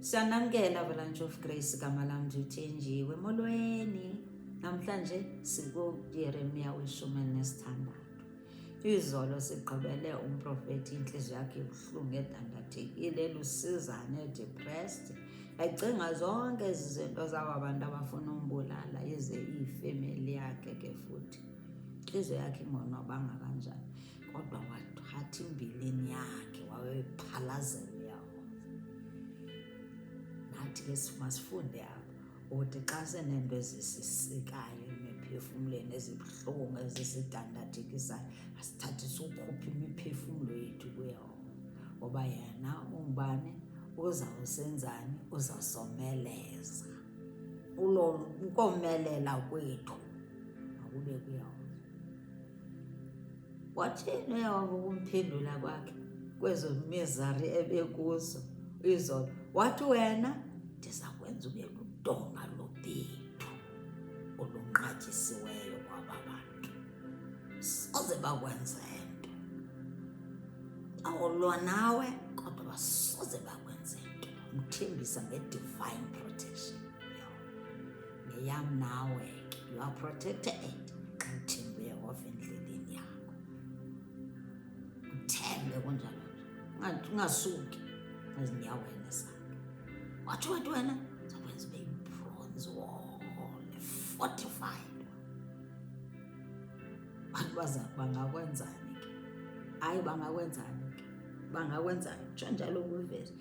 Siyanamkela Valanchof Grace gama lam ndithenjiwe molweni namhlanje sikuYeremiya weshumi elinesithandathu izolo sigqibele umprofeti intliziyo yakhe ibuhlungu edandathekile elusizane depressed ecinga zonke ezi zinto zaba bantu abafuna umbulala ize iyifemeli yakhe ke futhi intliziyo yakhe ingonwabanga kanjani kodwa wathatha imbilini yakhe wawephalazela uyahoza nathi ke simasifunde apha uthi xa seneento ezisisikayo emiphefumlweni ezibuhlungu ezisidandathikisayo asithathi siwukhuphe imiphefumlo yethu kuyehova ngoba yena umbane uzawusenzani uzasomeleza ukomelela kwethu makube kuyehova Wathini uyawuva ukumphendula kwakhe kwezo mizari ebekuzo izolo wathi wena ndiza kwenza ube ludonga lobethu olunqatyisiweyo kwaba bantu soze bakwenza nto awulwa nawe kodwa basoze bakwenza nto mthembisa nge-divine protection neyam nawe ke you are protected xa uthembe uyehova endleleni yakho uthembe kunjalo nje ungasuki ezinyaweni zakhe watsho wathi wena zakwenza ube yibronze wole fortified bantu baza bangakwenzani ke hayi bangakwenzani ke bangakwenzani tsho njalo kwivesi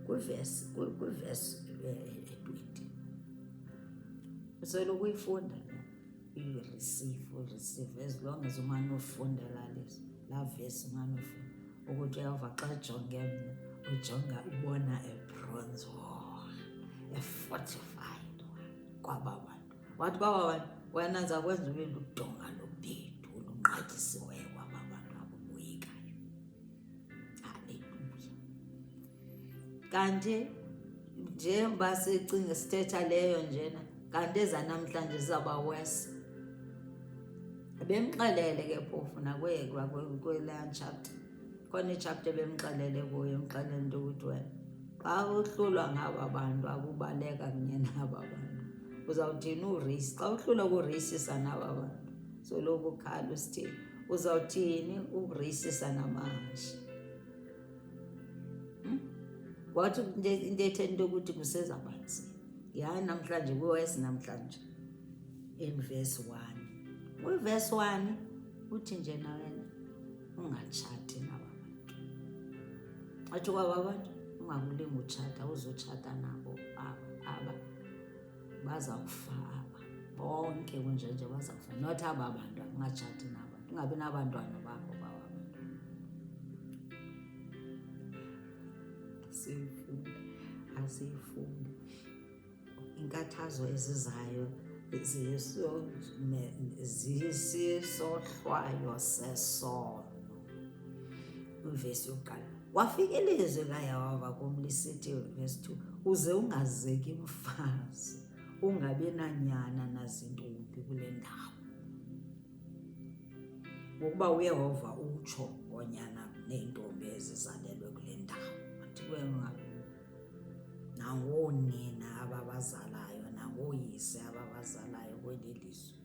kwivesi kwivesi eh, Usele ukuyifunda uyireceive uyireceive as long as umane ufunda lalisa laa vesi umane ufunda ukuthi uyava xa jonge mna ujonga ubona ebronze wor efortified kwaba bantu wathi baba bantu wena zakwenza ube ludonga lobhedu olunqatyisiweyo kanti njengoba sicinga sithetha leyo njena kanti ezanamhlanje zizawuba worse bemxelele ke phofu nakwekwa kwelaa chapter khona ichapter bemxelele kuyo emxelele into ukuthi wena xa uhlulwa ngaba bantu akubaleka kunye naba bantu uzawuthini urisi xa uhlulwa kurisisa naba bantu soloku ukhala usithini uzawuthini ukurisisa namahashi hmm? wathi into ethe into yokuthi kuseza kwanzi yaye namhlanje kwiwesi namhlanje in verse one kwiverse one uthi nje nawena ungatshati naba bantu atsho kwaba bantu ungakulinga utshata uzotshata nabo aba aba Baza kufa aba bonke kunjenje baza kufa not aba bantu andingatshati nabo ndingabi nabantwana babo bawa abantwana siyifunde asiyifunde inkathazo ezizayo zisisohlwayo sesono Ivesi yokuqala wafika ilizwi layehova kum lisithi vesi 2 uze ungazeki mfazi ungabi nanyana nazintombi kule ndawo ngokuba uyehova utsho ngonyana neentombi ezizalelwe kule ndawo andikwenga nangoonina ababazalayo nangooyise ababazalayo kweli lizwe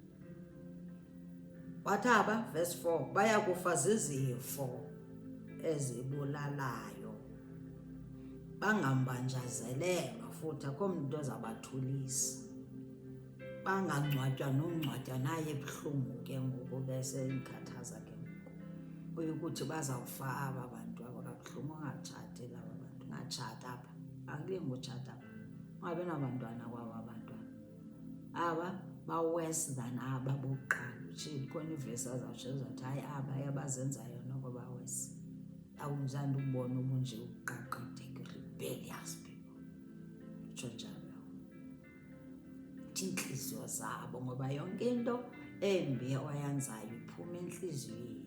Wathaba, verse 4, baya kufa zizifo ezibulalayo bangambanjazelelwa futhi akho mntu ozabathulisa bangangcwatywa nongcwatywa naye ebuhlungu ke ngoku besenkhathaza ke ngoku uye ukuthi bazawufa aba bantu aba kabuhlungu ungatshati laba bantu ungatshata apha akulinga utshata apha ungabi nabantwana kwaba aba bawesi than aba bokuqala utsho khona ivesi azawutsho zathi hayi aba yabazenzayo noko bawesi awunjani ukubona ubunje ukuqaqadeke rebellious people utsho njalo uthi iintliziyo zabo ngoba yonke into embi oyenzayo iphuma entliziyweni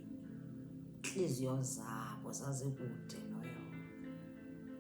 intliziyo zabo zazikude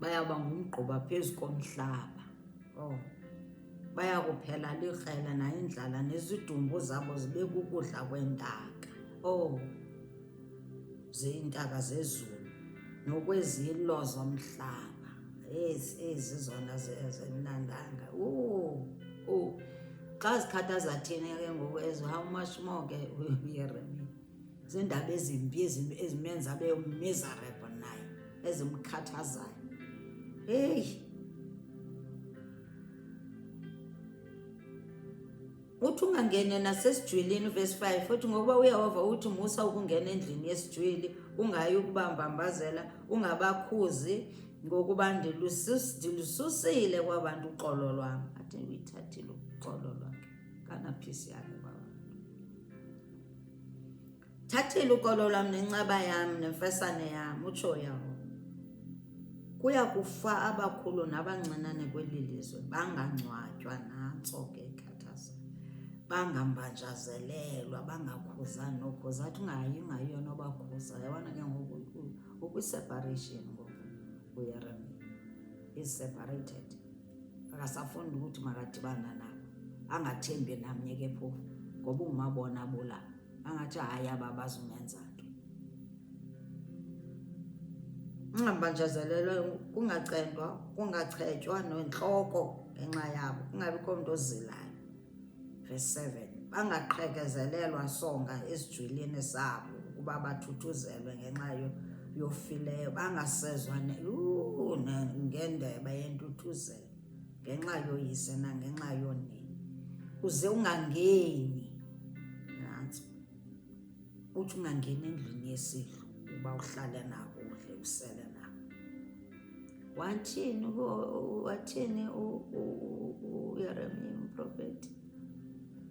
bayawuba ngumgquba phezu komhlaba oh baya kuphela likrhela nayindlala nezidumbu zabo zibe kukudla kwentaka oh ziyintaka zezulu nokwezilo zomhlaba ezi ezi zona zimnandanga u xa zikhathaza thina ke ngoku ezo how much more ke uyeremini ziindaba ezimbi ezimenza abe miserable naye ezimkhathazayo heyi uthi ungangene nasesijwilini verse 5 futhi ngokuba uyehova uthi musa ukungena endlini yesijwili ungayi ukubambambazela ungabakhuzi ngokuba ndilususile kwabantu uxolo lwam athi uyithathile uxolo lwakhe kanapisi yakhe kwaba thathela ukolo lwam nencaba yam nemfesane yam utsho yawo kuya kufa abakhulu nabancinane kweli lizwe bangangcwatywa nantso ke khathaza bangambanjazelelwa bangakhuza nokhuza athi ungayi ungayi yona obakhuza yabona ke ngoku ukwiseparation ngoku uyeremia is separated akasafuni ukuthi makadibana nabo angathembi namnye ke phofu ngoba ungumabona bula angathi hayi aba bazumenza nto ungambanjazelelwe kungacendwa kungachetywa nentloko ngenxa yabo kungabikho mntu ozilayo Verse 7 bangaqhekezelelwa songa esijwilini sabo ukuba bathuthuzelwe ngenxa yofileyo bangasezwa ngendebe yentuthuzelo ngenxa yoyise nangenxa yonini uze ungangeni uthi ungangeni endlini yesidlo uba uhlale nako udle usele nako wathini wathini uyeremiya umprofeti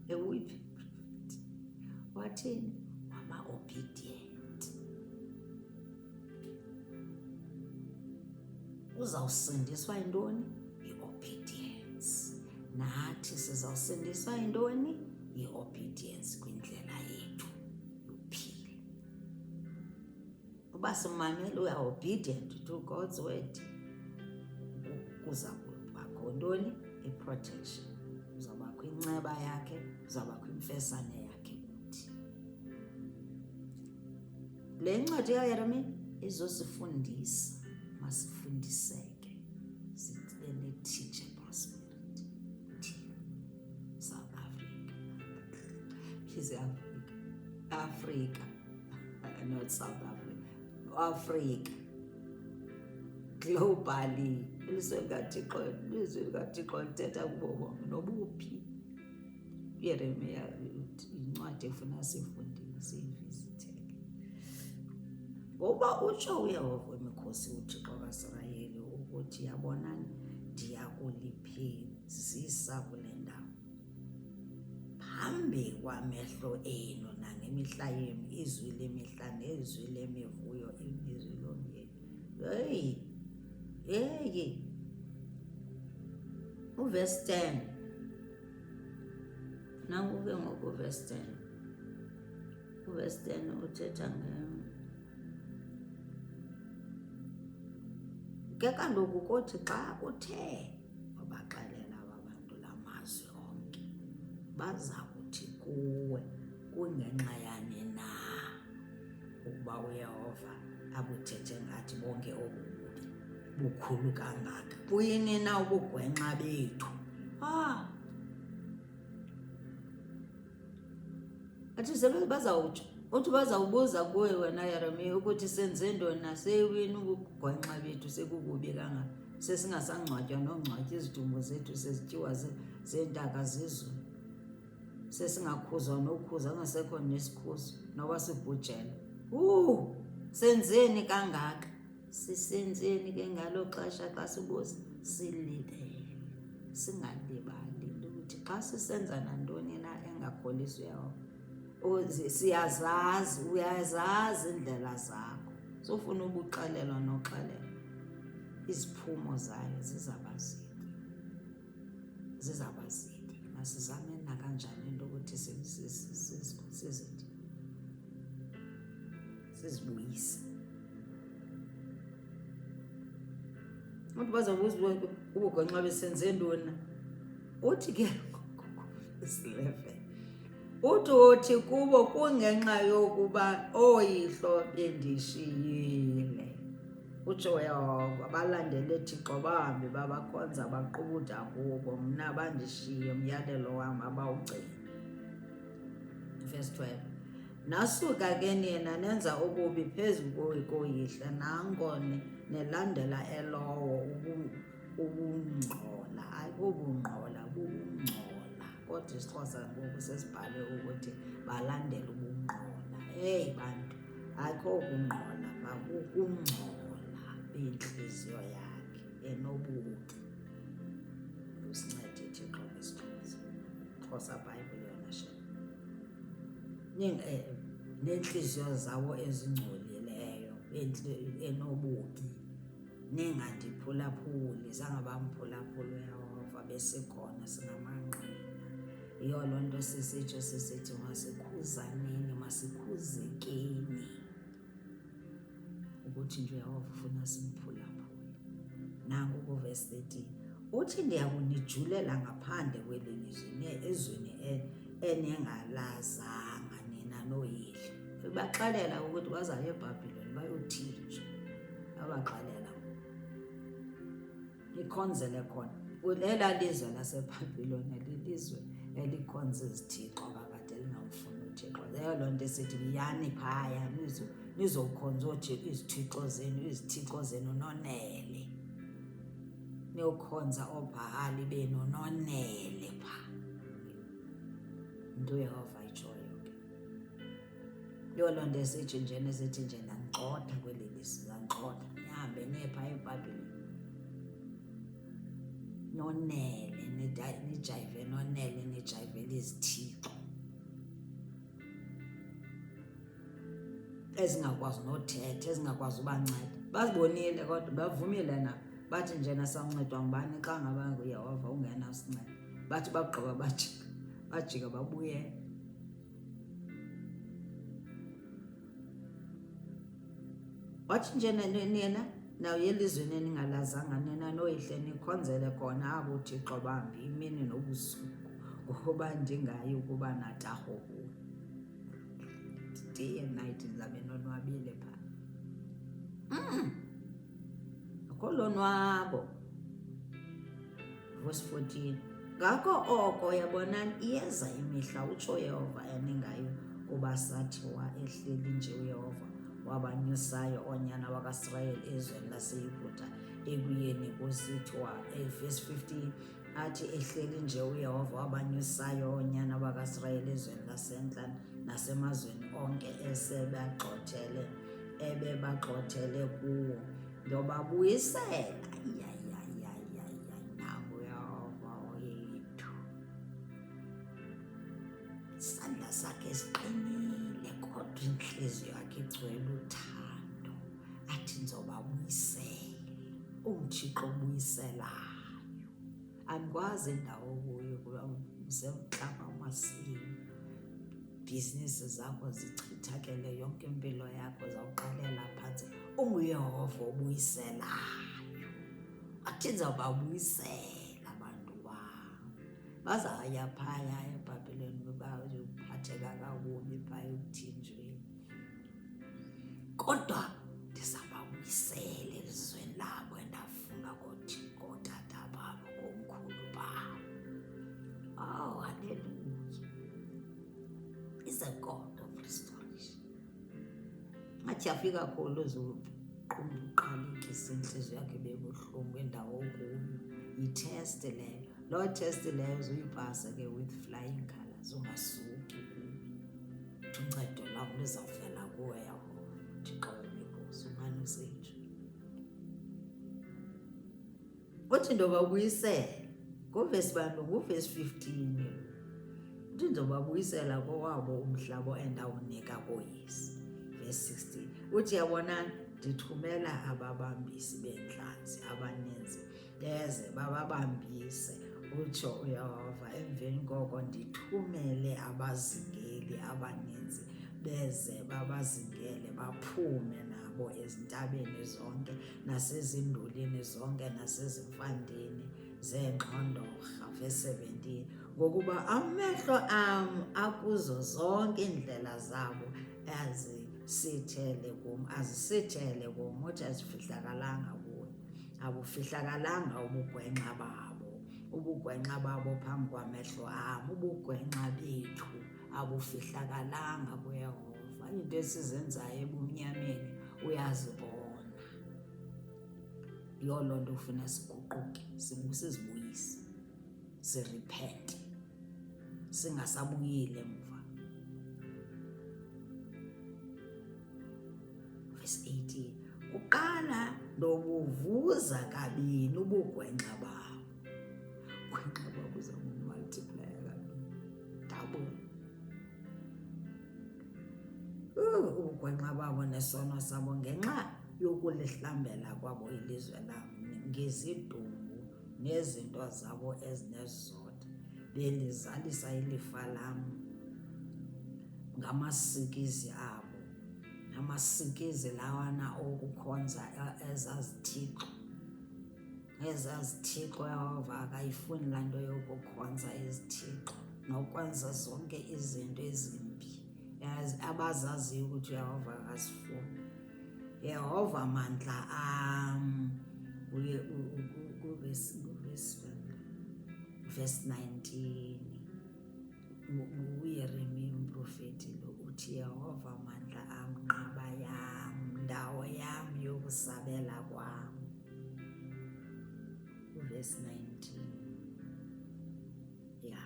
ewuyiphi wathini waba obedient Uzawusindiswa yintoni? Yi-obedience. Nathi sizawusindiswa yintoni? Yi-obedience kwindlela yethu yophila. Uba simamele uya obedient to God's word, kuza kubakho ntoni? I-protection. Uzawubakho inceba yakhe, uzawubakho imfesane yakhe. Le ncwadi kaYeremiya izosifundisa masifundiseke sibe ne-teachable spirit thina south africa please africa africa not south africa africa globally ilizwe likathixo ilizwe likathixo lithetha kubo bonke nobuphi uyeremiya yincwadi efuna sifundile siyivizithele ngoba utsho uyehova wemikhosi uthixo kasirayeli ukuthi yabonani ndiya kuliphezisa kule ndawo phambi kwamehlo enu nangemihla yenu izwi lemihla nezwi lemivuyo ilizwi lomyeni heyi heyi uvesi 10 Nangu ke ngoku verse 10. Uverse 10 uthetha nge ke kaloku kothi xa uthe wabaxelela aba bantu la mazwi onke baza kuthi kuwe kungenxa yani na ukuba uyehova abuthethe ngathi bonke obu bubi bukhulu kangaka buyini na ubugwenxa bethu ah. athi sebe bazawutsho uthi bazawubuza kuwe wena yeremiya ukuthi senze ntoni na seyiwini ubugwenxa bethu sekukubi kangaka sesingasangcwatywa nongcwatya izidumbu zethu sezityiwa zeentaka zezulu sesingakhuzwa nokhuza angasekho nesikhuzo noba sibhujela uu senzeni kangaka sisenzeni ke ngalo xesha xa sibuza silibele singalibali ukuthi xa sisenza nantoni na engakholisi uyehova siyazazi uyazazi iindlela zakho sofuna ubuxelelwa noxelelwa iziphumo zayo zizabazini zizawuba zide masizame nakanjani into ukuthi sizide sizibuyise abantu bazobuza ubugwenxa besenze ntoni uthi ke isileven uthi uthi kubo kungenxa yokuba ooyihlo bendishiyile Utsho uYehova, balandele Thixo bahambe babakhonza baqubuda kubo, mna bandishiye umyalelo wam abawugcina. Verse 12. Nasuka ke nina nenza ububi phezu koyihla nanko nelandela elowo ubungcola ayikobungqola bubungcola kodwa isixhosa ngoku sesibhale ukuthi balandela ubungqola eyi bantu akokungqola makukungcola bentliziyo yakhe enobuki usincede thixo ngesixhosa xhosa bhayibhile yona she eh, neentliziyo zawo ezingcolileyo enobuki ningandiphulaphuli zange bamphulaphula uyehova besekhona singamanqina Yiyo loo nto sisitsho sisithi masikhuzaneni, masikhuzekeni ukuthi njeyehova ufuna simphulaphule. Nanku kuvesi 13 uthi ndiya kunijulela ngaphandle kweli lizwe ezweni e-, eningalazanga nina nooyihlo. Ubaxelela ukuthi bazale ebhabhiloni bayothinjwa abaxelela Ikhonzele khona. Ela lizwe laseBhabhilona lilizwe elikhonza izithixo kakade elingamfuni uThixo. Leyo loo nto esithi yani phaya nizokhonza oothixo izithixo zenu izithixo zenu nonele. Niyokhonza oobhahali benu nonele phaa. Yinto uYehova ayitshoyo. Yho, loo nto esithi nje nesithi nje ndangixotha kweli lizwi, ndangixotha. Ndihambe niye phaa eBhabhileni. Nonele, nijayive nonele, nijayivele izithixo. ezingakwazi nothetha ezingakwazi ubanceda bazibonile kodwa bavumile na bathi njena sancedwa ngubani xa ngaba nguyehova ungenasinceda bathi bagqiba bajika bajika babuyela wathi njena nina nawuye elizweni eningalazanga nina noyihle nikhonzele khona abo thixo bambi imini nobusuku ngokuba ndingayi ukuba natarho kuwo day and night ndizabe nonwabile pha mm. akho lonwabo Verse 14 Ngako oko yabonani iyeza imihla utsho Yehova eningayo kuba sathi wa ehleli nje uyehova wabanyusayo onyana wakasirayeli ezweni laseyuda ekuyeni kusithi wa evesi 15 athi ehleli nje uyehova wabanyusayo onyana wakasirayeli ezweni lasentla nasemazweni onke esebagxothele ebebagxothele kuwo Ndobabuyisela isandla sakhe siqinile kodwa intliziyo yakhe igcwele uthando athi nzobabuyisele umthixo obuyiselayo andikwazi ndawo kuyo kuba usemhlaba umasini bhizinisi zakho zichithakele yonke impilo yakho zawuqalela phantsi unguyehova obuyiselayo athi ndizawuba ubuyisela abantu wam bazawuya phaya ebhabhileni bebaphatheka kakubi phaya ekuthinjweni Kodwa ndizababuyisela elizweni labo endafunga kothi kootata babo komkhulu babo. Oh, haleluya. Is a God of restoration. Ngathi afika kholo zulu uqalekise intliziyo yakhe bebuhlungu indawo okuyo yitheste leyo loo theste leyo zuyipasa ke with flying colors ungasuki kuyo Uncedo lam lizawuvela kuwe yabo Thixo wemibhozo umane usenje. Uthi ndoba ubuyisela nguvesi bantu nguvesi 15 uthi ndoba ubuyisela kowabo umhlaba endawunika koyisi vesi 16 uthi yabonani ndithumela ababambisi beentlanzi abaninzi beze bababambise utsho uyehova emveni koko ndithumele abazingeli abaninzi beze babazingele baphume nabo ezintabeni zonke nasezindulini zonke nasezimfandeni zeengxondorha verse 17 ngokuba amehlo am akuzo zonke iindlela zabo azisithele kum azisithele kum uthi azifihlakalanga abufihlakalanga ubugwenxa babo ubugwenxa babo phambi kwamehlo am ubugwenxa bethu abufihlakalanga kuyehova iinto esizenzayo ebumnyameni uyazibona yiloo loo nto ufuna siguquke sibusizibuyise siripente singasabuyile mva verse 18 kuqala ndobuvuza kabini ubugwenxa babo gwenxa babo zakumultiplaya kabini double ubugwenxa babo nesono sabo ngenxa yokulihlambela kwabo ilizwe lam ngezidumbu nezinto zabo ezinesizotha bendizalisa ilifa lam ngamasikizi abo namasikizi lawana okukhonza ezazithixo ezazithixo yehova akayifuni laa nto yokukhonza izithixo nokwenza zonke izinto ezimbi abazaziyo ukuthi uyehova akazifuni Yehova mandla am uye kuvesi 19 uyeremi umprofeti lo uthi yehova mandla am nqaba yam ndawo yam yokusabela kwam uvesi 19 Ya,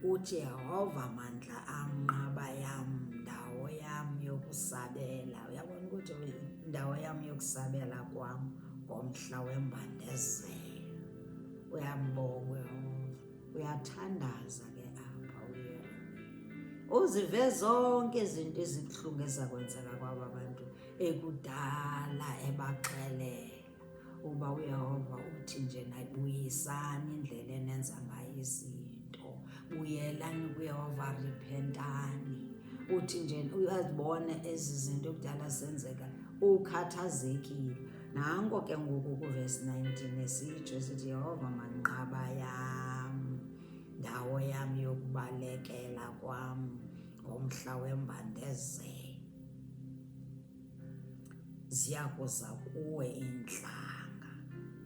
uJehova mandla am, nqaba yam, ndawo yam yokusabela. Uyabona ukuthi indawo yam yokusabela kwam ngomhla wembandezelo. Uyambonga uYehova, uyathandaza ke apha uYeremiya. Uzive zonke izinto ezibuhlungu ezakwenzeka kwaba bantu ekudala ebaxelela. uba uyehova uthi nje nayibuyisani indlela enenza ngayo izinto buyelani kuyehova riphentani uthi nje uyazibone ezi zinto kudala zenzeka ukhathazekile nanko ke ngoku kuvesi 19 esitsho esithi yehova manqaba yam ndawo yam yokubalekela kwam ngomhla wembandezelo ziyakuza kuwe iintlanga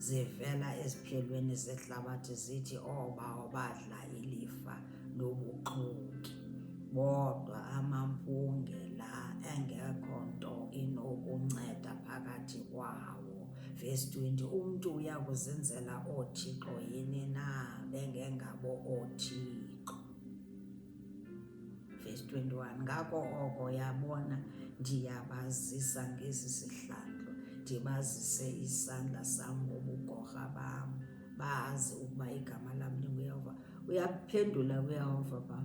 zivela eziphelweni zehlabathi zithi oobawo oh, badla ilifa lobuxoki bodwa amampunge la engekho nto inokunceda phakathi kwawo vesi 20 umntu uya kuzenzela oothixo yini na bengengabo oothixo Verse 21 ngako oko yabona ndiyabazisa ngesi sihlandlo ndibazise isandla sam ngobugorha bam bazi ukuba igama lam ndinguyehova uyaphendula kuyehova ba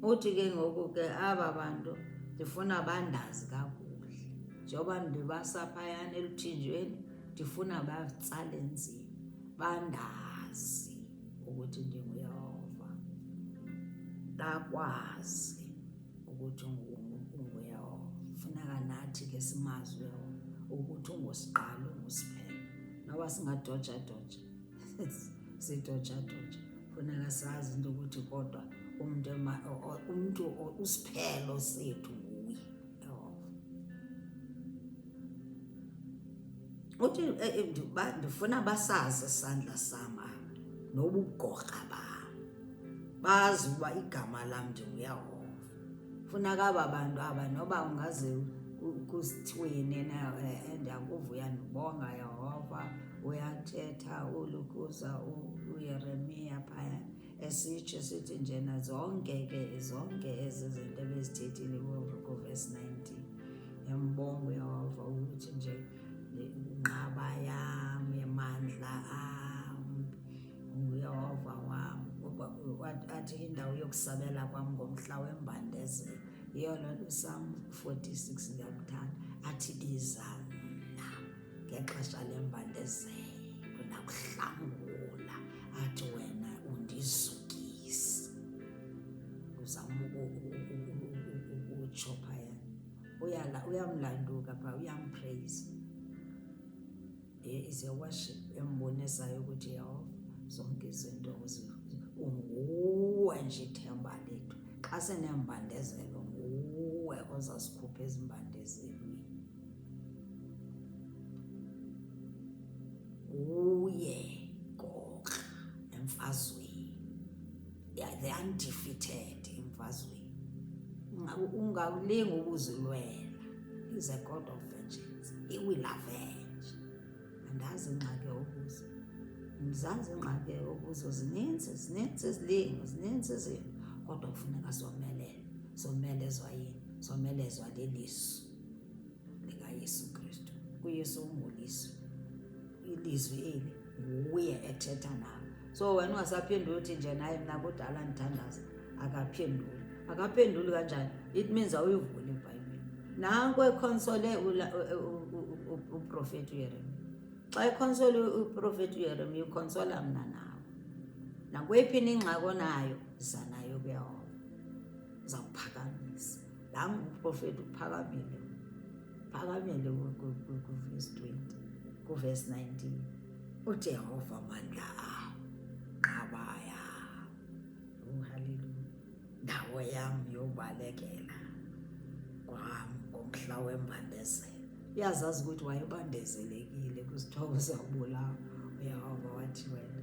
uthi ke ngoku ke aba bantu ndifuna bandazi kakuhle njengoba ndibasa phayana eluthinjweni ndifuna batsale nzima bandazi ukuthi ndinguyehova ndakwazi ukuthi unguyehova funeka nathi ke simazi uyehova ukuthi ungosiqala ungusiphe noba singadojadoja sidojadoja funeka sazi into ukuthi kodwa umntu umntu usiphelo sethu uthi eh, eh, ndifuna basazi isandla sam nobugorha bam bazi uba igama lam ndinguyahova funa kaba bantu aba noba ungaze kusithweni na eh, ndiyakuvuya ndibonga yehova uyathetha ulukuza uyeremiya phayana esitsho sithi njena zonke ke zonke ezi zinto ebezithethile kuvesi 19 embongo yehova ukuthi nje inqaba yam yemandla am nguyehova wam athi indawo yokusabela kwam ngomhla wembandezelo yiyo loo nto sam 46 ndiyakuthanda athi iza mna ngexesha lembandezelo nakuhlangula athi wena undizukise uzama ukutsho phaya uyamlanduka pha uyampraise is a worship embonisayo ukuthi yehova zonke izinto unguwe nje ithemba lethu xa senembandezelo nguwe ozasikhupha ezimbandezini kuye gokra emfazweni they undefeated emfazweni ungalinga ukuzilwela is a god of vengeance he will avenge andazi ingxaki okuzo ndizazi ingxaki okuzo zininzi zininzi izilingo zininzi izinto kodwa kufuneka zomelele zomelezwa yini zomelezwa lilizwi likaYesu Kristu. UYesu ungulizwi, ilizwi eli nguye ethetha nawe. So wena ungasaphenduli uthi nje naye mna kudala ndithandaza, akaphenduli. Akaphenduli kanjani? It means awuyivuli iBhayibhile. Nanko ekhonsole uprofeti uYeremiya. Xa ekhonsole uprofeti uYeremiya ukhonsola mna nawe. Nakweyiphi na ingxaki onayo, yiza nayo kuYehova. Uzawuphakamisa. nam uprofeti uphakamile phakamile kuvesi 20 kuvesi 19 ujehova mandla awo nqabaya uhaleluya ndawo yam yobalekela kwam ngomhla wembandezelo uyazazi ukuthi wayebandezelekile kwisithobo sawubulawa uyehova wathi wena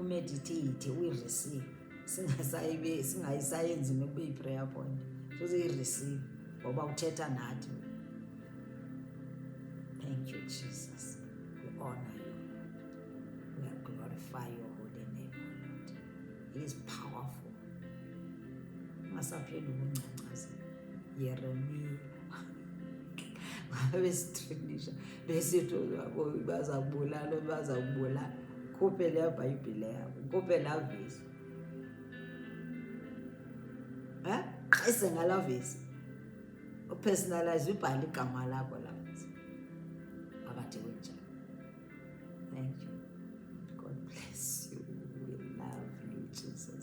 umeditate uyireceive singasayibe singayisayenzi nokuba yi-prayer point futhi uyireceive ngoba uthetha nathi thank you jesus we honor you we glorify your holy name o lord he is powerful ungasapheli ukungcancaza yeremiya wabe sitrinisha besithi baza kubulala baza kubulala khuphe leyo bhayibhile yabo khuphe laa vesi um qise ngalaa vesi upersonalize ubhale igama lakho la vesi phakathi kwenjalo thank you god bless you we love you jesus